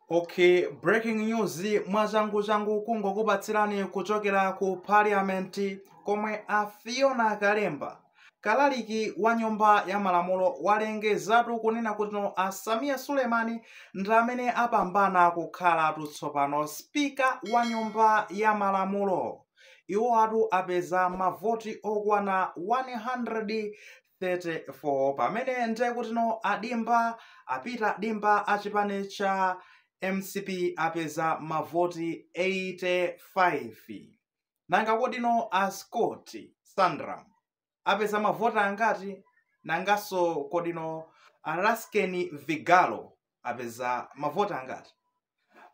Okay, breaking news mwachanguchangu kungokupatsirani kuchokera ku parliament komwe a Fiona Kalemba kalaliki wa nyumba ya malamulo walengezatu kunena kutino a Sameer Suleman ndi amene apambana kukhalatu tsopano spika wa nyumba ya malamulo iwowatu apeza mavoti okwana 134 pamene nde kutino adimba a Peter Dimba achipani cha mcp apeza mavoti 85 nanga kodino a scott sandram apeza mavoti angati nanganso kodino a Lasten vigalo apeza mavoti angati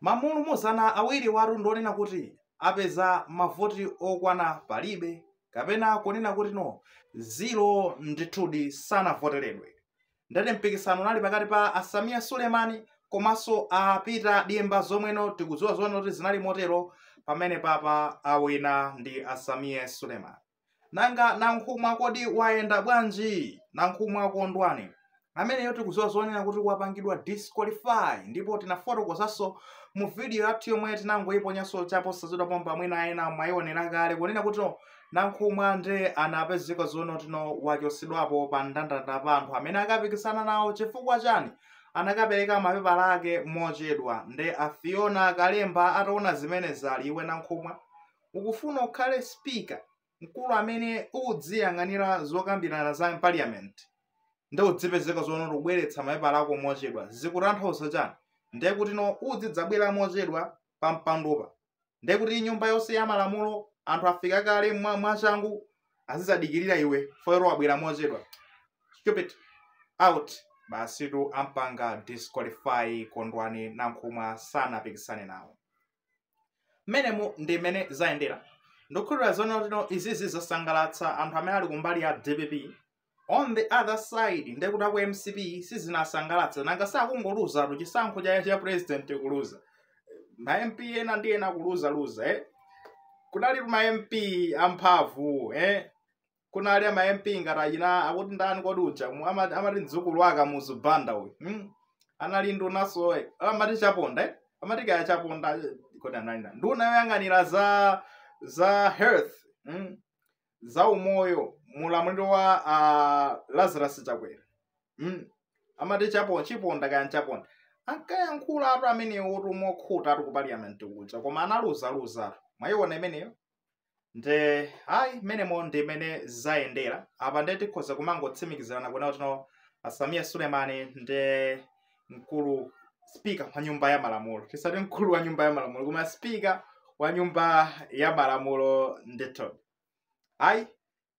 ma mlumuzana awiriwatu ndi onena kuti apeza mavoti okwana palibe kapena kunena kutino ziro ndithudi sanavoteredwe ndati mpikisano unali pakati pa a Sameer Suleman komanso a Peter Dimba zomweno tikudziwa zonena kuti zinali motero pamene apapa awina ndi a Sameer Suleman nanga nankhumwa kodi wayenda bwanji nankhumwa kondwani ameneyo tikudziwa zonena kuti wapangidwa disqualify ndipo tinafotokozanso mu video yathu yomwe tinangoyiponyanso chaposachedwa pompa mwina ena mwayiwonera kale kunena kutino nankhumwa nde anapezeka zoona kutino wachotsedwapo pa ndandanda pa anthu amene akapikisana nawo chifukwa chani anakapereka mapepala ake mochedwa nde a Fiona kalemba ataona zimenezi ali iwe nankhumwa ukufuna ukhale speaker mkulu amene udziyang'anira zokambirana za parliament nde udzipezeka zoona ukubweretsa mapepala ako mochedwa zikutanthauza chani nde kutino udzidzabwera mochedwa pa mpandopa nde kuti nyumba yonse ya malamulo anthu afika kale mwa- mwachangu azidzadikirira iwe for yellow wabwera mochedwa stupid out basitu ampanga disqualify kondwani nankhumwa sanapikisane nawo mmenemo ndi mmene zayendera ndikukhulupirira zoona kutino izizi zasangalatsa anthu amene ali kumbali ya dpp on the other side ndekuti aku mcp sizinasangalatsa nanga akungoluzatu chisankho cha, cha president kuluza ma mp ena ndi ena kuluzaluza eh? kunalitu ma mp amphamvu eh? kunali ma mp ngati achina akuti ndani kodi uja mu- ama- amati mdzukulu wa Kamuzu banda uyu hmm? anali ndunaso eh, amati chaponda eh? amati kaya chaponda eh, kodi anali ndani? nduna yoyang'anira za za health hmm? za umoyo mulamuliro wa uh, lazarus chakwera hmm? amati chaponda chiponda kaya chaponda ankayankhulatu amenewo mokhutatu ku parliament kuja koma analuzaluza mwayiona imeneyo nde ayi mmenemo ndi mmene zayendera apa nde tikhoza kumangotsimikizirana kuona kuti no asamiya sulemani ndi mkulu spika wa nyumba ya malamulo tisati mkulu wa nyumba ya malamulo koma spika wa nyumba ya malamulo ndithu ayi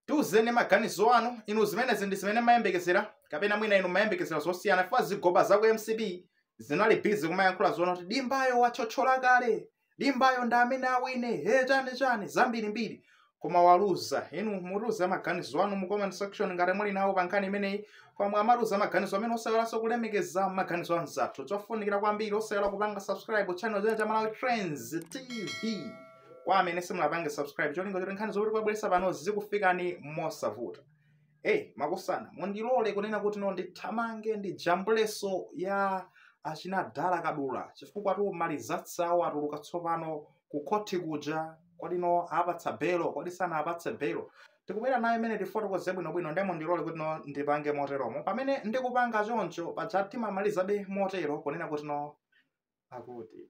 tiuzeni maganizo anu inu zimenezi ndi zimene mumayembekezera kapena mwina inu mumayembekezera zosiyana chifukwa zigoba za ku mcp zinali busy kumayankhula zoona kuti dimbayo watchola kale dimbayo ndi amene awine he chani chani zambirimbiri koma waluza inu mutiuze maganizo anu mu comment section ngati muli nawo pa nkhani imeneyi koma mukamatiuza maganizo amenewo osaiwalanso kulemekeza maganizo anzathu chofunikira kwambiri osaiwala kupanga subscribe channel chino cha malawi trends tv kwa amene simunapange subscribe cholinga choti nkhani zomwe tikubweretsa pano zikufikeni mosavuta eyi makosana mundilole kunena kuti no ndithamange ndikajambulenso ya achina dala kadula chifukwatu amalizatu atuluka tsopano ku khoti kuja kodi no awapatsa belo kodi sanawapatse belo tikubwera nayo imeneyo tifotokoze bwinobwino nde mundilole kuti no ndipange moteromo pamene ndikupanga choncho paja timamalizabe motero kunena kuti no akuti